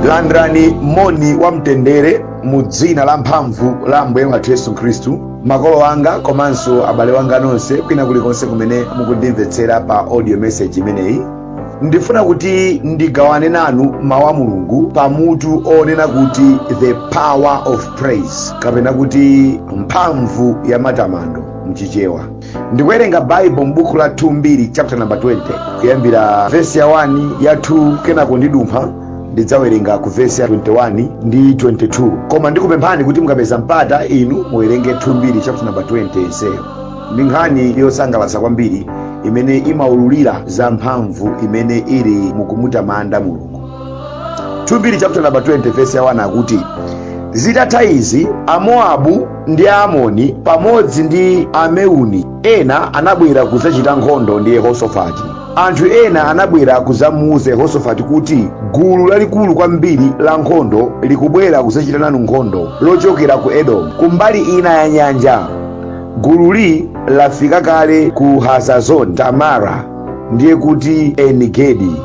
landirani moni wa mtendere mu dzina la mphamvu la ambuye wathu yesu khristu makolo anga komanso abale wanga nonse kwina kulikonse kumene mukundimvetsera pa audio message imeneyi ndifuna kuti ndigawane nanu mawu a mulungu pa mutu onena kuti the power of praise kapena kuti mphamvu ya matamando mchichewa ndikuwerenga baibo m'buku la 2 mbiri chapter number 20 kuyambira vesi ya 1 ya 2 kenako ndidumpha ndidzawerenga ku vesi ya 21 ndi 22 koma ndikupemphani kuti mukapeza mpata inu muwerenge 2 mbiri chapter number 20 yonseyo ndi nkhani yosangalatsa kwambiri imene imaululira za mphamvu imene ili mukumutamanda mulungu 2 mbiri chapter number 20 verse ya 1 akuti zitatha izi amoabu ndi aamoni pamodzi ndi ameuni ena anabwera kudzachita nkhondo ndi yehosofati anthu ena anabwera kudzamuuza yehosofati kuti gulu lalikulu kwambiri la nkhondo likubwera kudzachita nanu nkhondo lochokera ku edomu kumbali ina ya nyanja gululi lafika kale ku hazazoni tamara ndiye kuti enigedi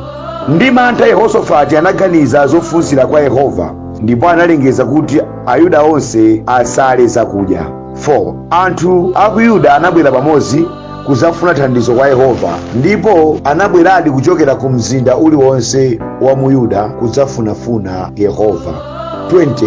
ndi mantha yehosofati anaganiza zofunsira kwa yehova ndipo analengeza kuti ayuda onse asale zakudya 4 anthu a ku yuda anabwera pamodzi kudzafuna thandizo kwa yehova ndipo anabweradi kuchokera ku mzinda uliwonse wa mu yuda kudzafunafuna yehova 20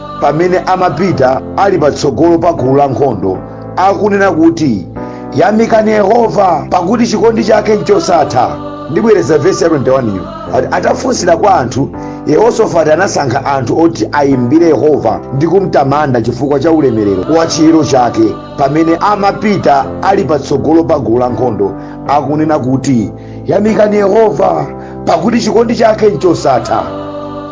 pamene amapita ali patsogolo pa gulu la nkhondo akunena kuti yamikani yehova pakuti chikondi chake nchosatha ndibwereza vesi ya 21 iyo akuti atafunsira kwa anthu yehosofati anasankha anthu oti ayimbire yehova ndi kumtamanda chifukwa cha ulemerero wa chiyero chake pamene amapita ali patsogolo pa gulu la nkhondo akunena kuti yamikani yehova pakuti chikondi chake nchosatha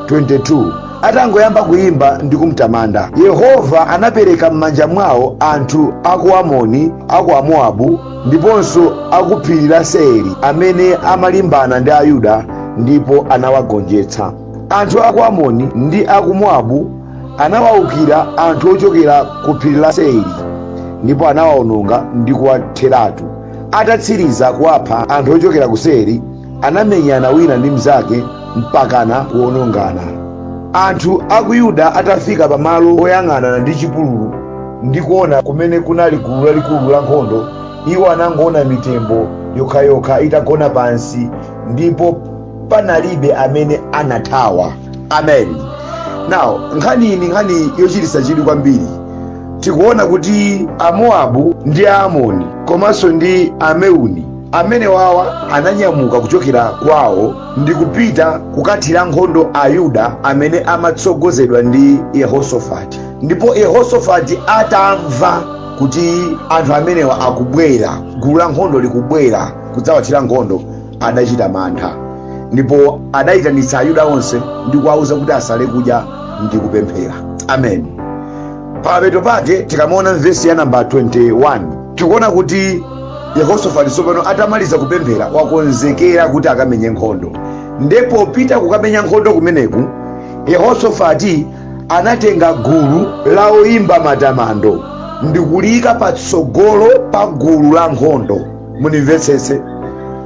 22 atangoyamba kuyimba ndi kumtamanda yehova anapereka m'manja mwawo anthu aku amoni aku amowabu ndiponso aku phiri la seiri amene amalimbana ndi ayuda ndipo anawagonjetsa anthu aku amoni ndi aku mowabu anawawukira anthu ochokera ku phiri la seiri ndipo anawawononga ndi kuwatheratu atatsiriza kuwapha anthu ochokera ku seiri anamenyana wina ndi mnzake mpakana kuwonongana anthu a ku yuda atafika pamalo oyang'anana ndi chipululu ndi kuona kumene kunali gulu lalikulu la nkhondo iwo anangoona mitembo yokhayokha itagona pansi ndipo panalibe amene anathawa amen now nkhani iyi ndi nkhani yochititsa chidwi kwambiri tikuona kuti amowabu ndi aamoni komanso ndi ameuni amene wawa ananyamuka kuchokera kwawo ndi kupita kukathira nkhondo ayuda amene amatsogozedwa ndi yehosafati ndipo yehosafati atamva kuti anthu amenewa akubwera gulu la nkhondo likubwera kudzawathira nkhondo adachita mantha ndipo adayitanitsa ayuda onse ndi kuwawuza kuti asale kudya ndi kupemphera amen pamapeto pake tikamaona mvesi ya namba 21 tikuona kuti yehosafati tsopano atamaliza kupemphera wakonzekera kuti akamenye nkhondo ndipo popita kukamenya nkhondo kumeneku yehosafati anatenga gulu la oyimba matamando ndikuliyika patsogolo pa gulu la nkhondo munimvetsetse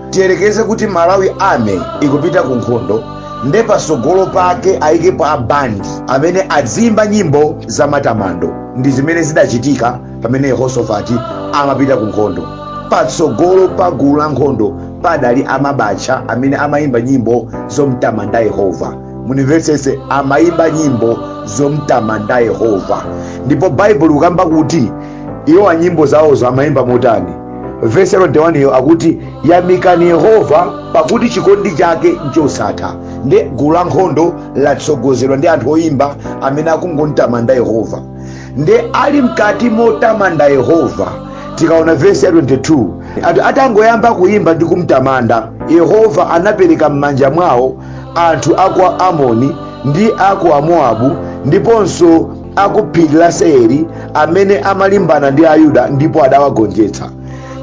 tiyerekeze kuti malawi army ikupita ku nkhondo nde patsogolo pake ayikepo abandi amene aziyimba nyimbo za matamando ndi zimene zidachitika pamene yehosofati amapita ku nkhondo patsogolo pa gulu la nkhondo padali amabacha amene amayimba nyimbo zomtamanda yehova munimvetsetse amayimba nyimbo zomtamanda yehova ndipo baibulo likukamba kuti iwo anyimbo zawozo amayimba motani vesi ya 21yo akuti yamikani yehova pakuti chikondi chake nchosatha nde gulu la nkhondo latsogozedwa ndi anthu oyimba amene akungontamanda yehova nde ali mkati motamanda yehova tikaona vesi ya 22 anthu atangoyamba kuyimba ndi kumtamanda yehova anapereka m'manja mwawo anthu a kwa amoni ndi a kwa mowabu ndiponso a ku phiri la seiri amene amalimbana ndi ayuda ndipo adawagonjetsa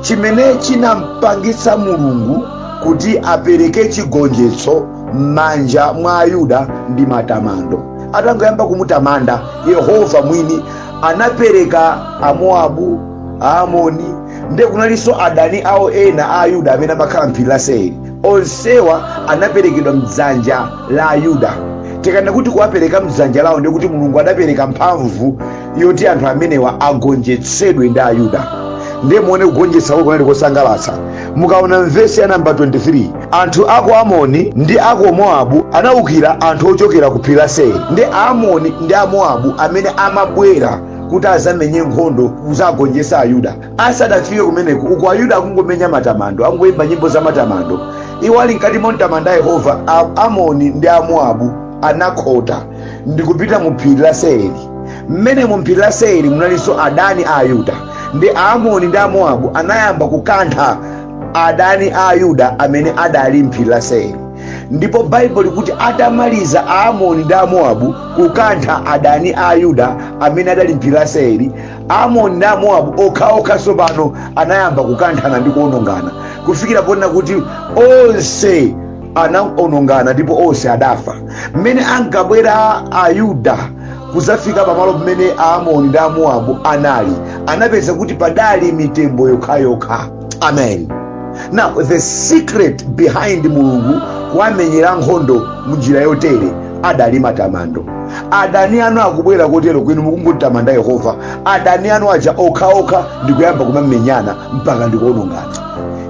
chimene chinampangitsa mulungu kuti apereke chigonjetso m'manja mwa ayuda ndi matamando atangoyamba kumutamanda yehova mwini anapereka amoabu aamoni ndiye kunalinso adani awo ena a ayuda amene amakhala mphiri la seiri onsewa anaperekedwa mdzanja la ayuda tikanena kuti kuwapereka mdzanja lawo ndiye kuti mulungu adapereka mphamvu yoti anthu amenewa agonjetsedwe ndi ayuda ndiye muone kugonjetsa kwake kunali kosangalatsa mukaona mvesi ya namba 23 anthu a kwa amoni ndi a kwa moabu anaukira anthu ochokera ku phiri la seiri ndi aamoni ndi amoabu amene amabwera kuti azamenye nkhondo kuzagonjetsa ayuda asadafike kumeneko uku ayuda akungomenya matamando akungoyimba nyimbo za matamando iwo ali mkati momtamanda yehova A- amoni ndi amoabu anakhota ndi kupita mu phiri la seiri mmene mu phiri la seiri munalinso adani a ayuda nde aamoni ndi amoabu anayamba kukantha adani a ayuda amene adali mphiri la seiri ndipo baibulo likuti atamaliza aamoni ndi amoabu kukantha adani a ayuda amene adali mphiri la seiri amoni ndi amowabu okhaokha tsopano anayamba kukanthana ndi kuonongana kufikira ponena kuti onse anaonongana ndipo onse adafa mmene ankabwera ayuda kuzafika pamalo pamene aamoni ndi amowabu anali anapeza kuti padali mitembo yokhayokha amen now the secret behind mulungu kuwamenyera nkhondo munjira yotere adali matamando adani anu akubwera kotereku inu mukungomutamanda yehova adani anu aja okhaokha ndikuyamba kumamenyana mpaka ndikuonongana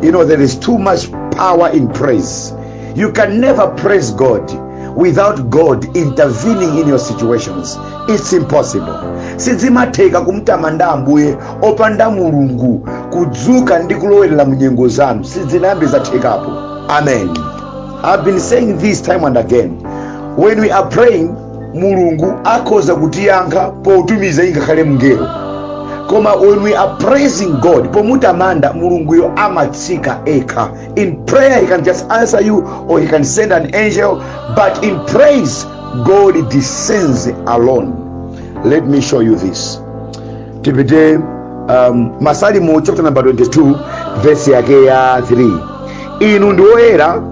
you know there is too much power in praise You can never praise God without God intervening in your situations. It's impossible. sizimatheka kumtamanda ambuye opanda mulungu kudzuka ndi kulowerera mu nyengo zanu sizinayambe zathekapo amen i've been saying this time and again when we are praying mulungu akhoza kutiyankha potumiza ingakhale mngelo koma when we are praising god pomutamanda mulunguyo amatsika yekha In prayer, He can just answer you or He can send an angel. But in praise, God descends alone. Let me show you this. Tipite um, Masalimo chapter number 22 verse yake ya 3. Inu ndi oyera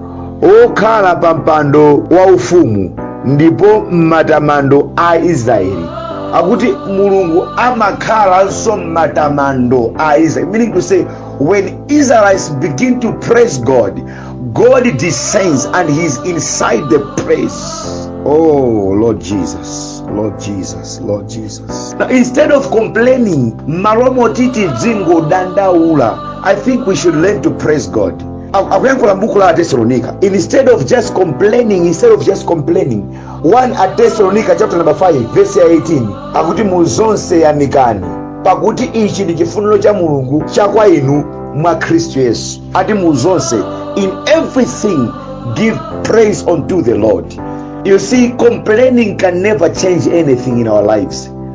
okhala pa mpando wa ufumu ndipo m'matamando a Israeli. Akuti Mulungu amakhalanso m'matamando a Israeli. Meaning to say when Israelites begin to praise God, God descends and He's inside the praise. Oh, Lord Jesus, Lord Jesus, Lord Jesus. Now, instead of complaining, maromo titi dzingo dandaula, I think we should learn to praise God. akuyankhula mbuku la atesalonika instead of just complaining instead of just complaining 1 atesalonika chapter number 5 verse ya 18 akuti mu zonse yamikani pakuti ichi ndi chifuniro cha mulungu cha kwa inu mwa khristu yesu ati mu zonse in everything give praise unto the lord you see complaining can never change anything in our lives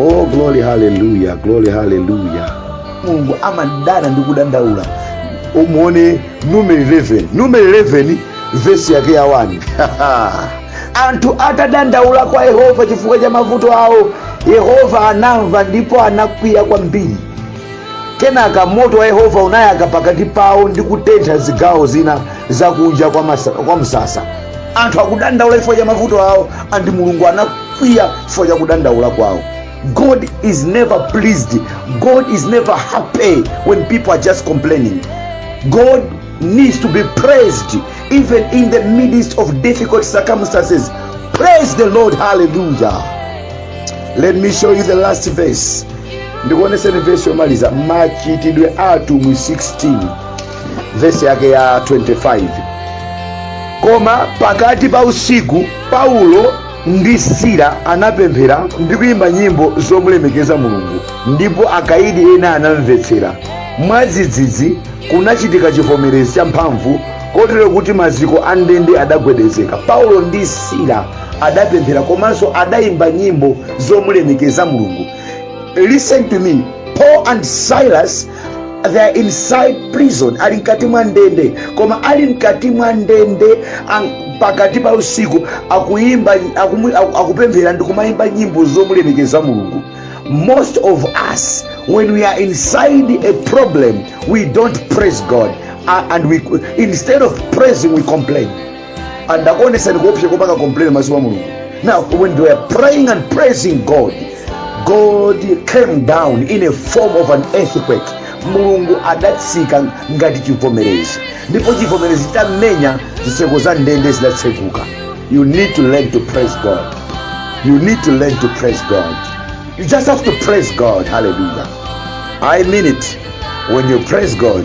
oh glory haleluya glory haleluya mulungu amadana ndi kudandaula mumuone numeri 11 numeri 11 vesi yake ya 1 anthu atadandaula kwa yehova chifukwa cha mavuto awo yehova anamva ndipo anakwiya kwambiri kenaka moto wa yehova unayaka pakati pawo ndi kutentha zigawo zina zakunja kwa, masa, kwa msasa anthu akudandaula chifukwa cha mavuto awo andi mulungu ana kwiya chifukwa cha kudandaula kwawo god is never pleased god is never happy when people are just complaining god needs to be praised even in the midst of difficult circumstances praise the lord hallelujah let me show you the last verse ndikuoneseni verse yomaliza machitidwe atumwi 16 verse yake ya 25 koma pakati pa usiku paulo ndi sila anapemphera ndi kuyimba nyimbo zomulemekeza mulungu ndipo akaidi ena anamvetsera mwadzidzidzi kunachitika chivomerezi champhamvu kotero kuti maziko a ndende adagwedezeka paulo ndi sila adapemphera komanso adayimba nyimbo zomulemekeza mulungu listen to me paul and silas they are inside prison ali mkati mwa ndende koma ali mkati mwa ndende ang- pakati pa usiku akuyimba akumu- aku- akupemphera ndi kumayimba nyimbo zomulemekeza mulungu most of us when we are inside a problem we don't praise god uh, and we instead of praising we complain adakuonesani kuopsa kopanga complain maso kwa mulungu now when they were praying and praising god god came down in a form of an earthquake mulungu adatsika ngati chivomerezi ndipo chivomerezi chitamenya zitseko za ndende zidatseguka you need to learn to praise god you need to learn to praise god you just have to praise god hallelujah i mean it when you praise god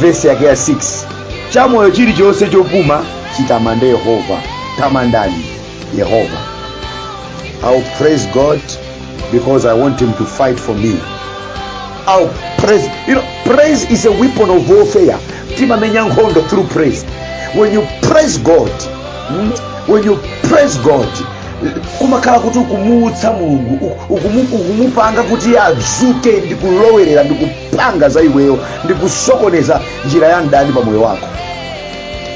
vesi yake ya 6 chamoyo chilichonse chopuma chitamande yehova tamandani yehova i'll praise god because i want him to fight for me i'll praise you know praise is a weapon of warfare timamenya nkhondo through praise when you praise god mm, when you praise god kumakhala kuti ukumuutsa mulungu uku- ukumu- ukumupanga kuti adzuke ndi kulowerera ndi ku kupanga za iweyo ndi kusokoneza njira ya mdani pa moyo wako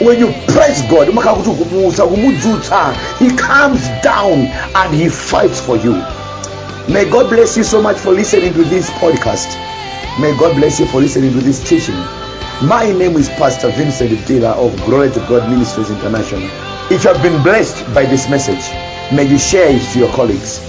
when you praise god umakhala kuti ukumuusa ukumudzutsa he comes down and he fights for you may god bless you so much for listening to this podcast may god bless you for listening to this teaching my name is pastor vincent dila of glory to god ministries international if you have been blessed by this message may you share it to your colleagues